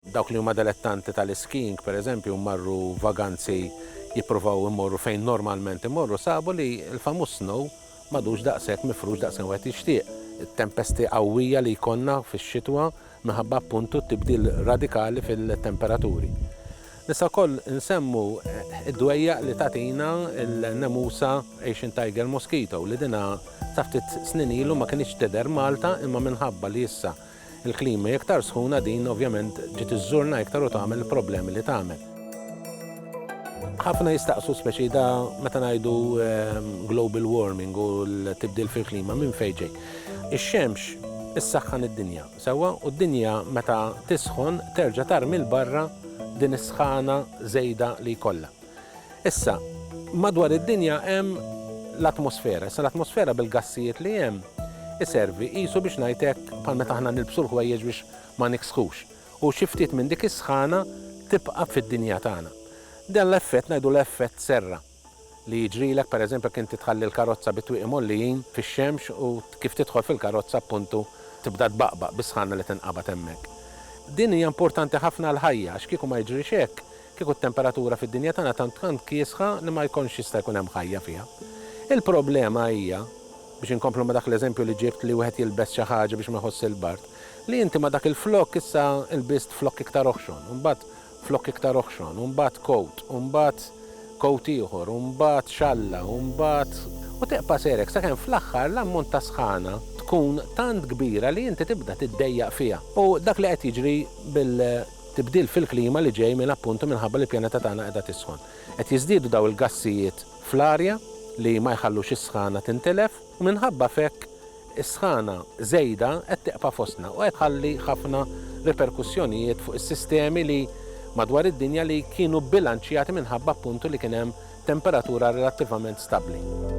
Dawk li huma delettanti tal-iskijing, pereżempju, u marru vaganzi jippruvaw imorru fejn normalment imorru, sabu li l-famuż snow m'għadux daqshekk mifrux daqskemm wieħed jixtieq. It-tempesti qawwija li jkollna fix-xitwa minħabba appuntu t-tibdil radikali fil-temperaturi. Nistgħu wkoll insemmu d-dwejjaq li tagħtina l-nemusa Asian tiger mosquito li dinha sa ftit snin ilu ma kinitx tidher Malta imma minħabba li issa Il-klima hi iktar sħuna din ovvjament ġiet iżżurna iktar u tagħmel il-problemi li tagħmel. Ħafna jistaqsu speċi da meta ngħidu global warming u l-tibdil fil-klima minn fejn ġej. Ix-xemx issaħħan id-dinja, sewwa, u d-dinja meta tisħon terġa' tarmi 'l barra din is-sħana żejda li jkollha. Issa, madwar id-dinja hemm l-atmosfera. Issa l-atmosfera bil-gassijiet li hemm iservi qisu biex ngħid hekk bħal meta aħna nilbsu l-ħwejjeġ biex ma niksħux. U xi ftit minn dik is-sħana tibqa' fid-dinja tagħna. Dan l-effett ngħidulu effett serra li jiġrilek pereżempju jekk inti tħalli l-karozza bit-twieqi mgħollijin fix-xemx u kif tidħol fil-karozza appuntu tibda tbaqbaq bis-sħana li tinqabad hemmhekk. Din hija importanti ħafna għall-ħajja għax kieku ma jiġrix hekk, Kieku t-temperatura fid-dinja tagħna tant tant kiesħa li ma jkontx jista' jkun hemm ħajja fiha. Il-problema hija, biex inkomplu ma' dak l-eżempju li ġibt li wieħed jilbes xi ħaġa biex ma jħossx il-bard, li inti ma' dak il-flokk issa lbist flokk iktar oħxon, u mbagħad flokk iktar oħxon, u mbagħad kowt, u mbagħad kowt ieħor, u mbagħad xalla, u mbagħad, u tibqa' sejr hekk sakemm fl-aħħar l-ammont ta' sħana tkun tant kbira li inti tibda tiddejjaq fiha. U dak li qed jiġri bil. tibdil fil-klima li ġej minn appuntu minħabba li l-pjaneta tagħna qiegħda tisħon. Qed jiżdiedu dawn il-gassijiet fl-arja li ma jħallux is-sħana tintilef u minħabba f'hekk is-sħana żejda qed tibqa' fostna u qed tħalli ħafna riperkussjonijiet fuq is-sistemi li madwar id-dinja li kienu bbilanċjati minħabba appuntu li kien hemm temperatura relattivament stabbli.